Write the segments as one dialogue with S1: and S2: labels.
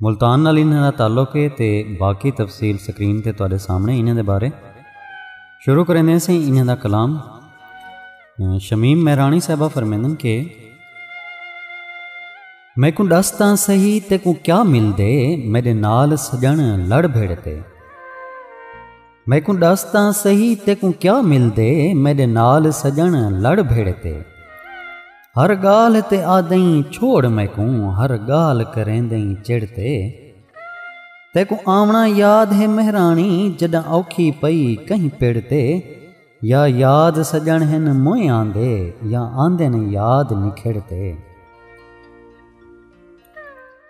S1: ملتان نال انہاں دا تعلق ہے تے باقی تفصیل سکرین تے تواڈے سامنے انہاں دے بارے شروع کریندے ہیں سیں انہاں دا کلام شمیم مہرانی صاحبہ فرمیندن کہ میں کو ڈس تاں سہی تے کو کیا مل دے میرے نال سجن لڑ بھیڑ تے میکوں ڈس تاں سہی تیکوں کیا مل دے میڈے نال سجن لڑ بھیڑے تے ہر گال تے آدیں چھوڑ میکوں ہر گال کریں دیں چڑ تے تیکوں آونا یاد ہے مہرانی جڈاں اوکھی پئی کہیں پیڑ تے یا یاد سجن ہن موئے آندے یا آندے نے یاد نکھڑ تے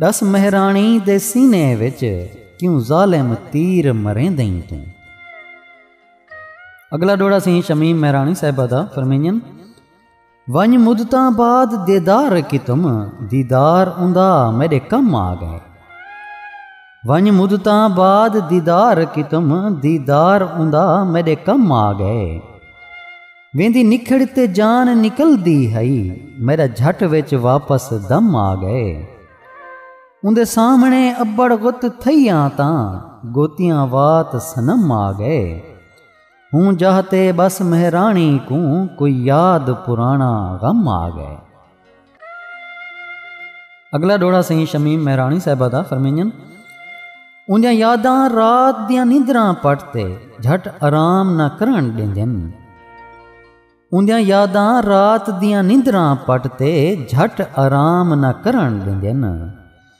S1: ݙس مہراݨی دے سینے وچ کیوں ظالم تیر مریندئیں توں۔ اڳلا ݙوہڑا سئیں شمیم مہراݨی صاحبہ دا فرمینڄن ونڄ مدتاں بعد دیدار کیتم دیدار اوندا میݙے کم آ ڳئے ونڄ مدتاں بعد دیدار کیتم دیدار اوندا میݙے کم آ ڳئے۔ ویندی نکھڑ تے جان نکلدی ہئی میرا جھٹ وچ واپس دم آ گئے اندے سامنے ابڑ غت تھئیاں تاں گوتیاں وات سنم آ گئے ہوں جاہتے بس مہرانی کوں کوئی یاد پرانا غم آ گئے اگلا ڈوڑا سئیں شمیم مہراݨی صاحبہ دا فرمینجن اوندیاں یاداں رات دیاں نیندراں پٹ تے جھٹ آرام نہ کرن ڈیندن اوندیاں یاداں رات دیاں نیندراں پٹ تے جھٹ آرام نہ کرن ڈیندن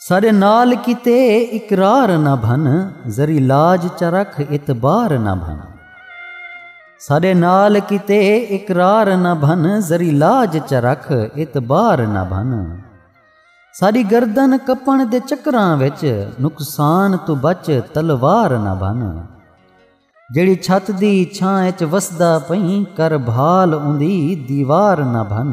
S1: ساڈے نال کیتے اقرار نہ بھن ذری لاج چرکھ اعتبار نہ بھن ساڈے نال کیتے اقرار نہ بھن ذری لاج چرکھ اعتبار نہ بھن ساری گردن کپن دے چکراں وچ نقصان تو بچ تلوار نہ بن جڑی چھت دی چھاں وچ وسدا پئیں کر بھال اوندی دیوار نہ بن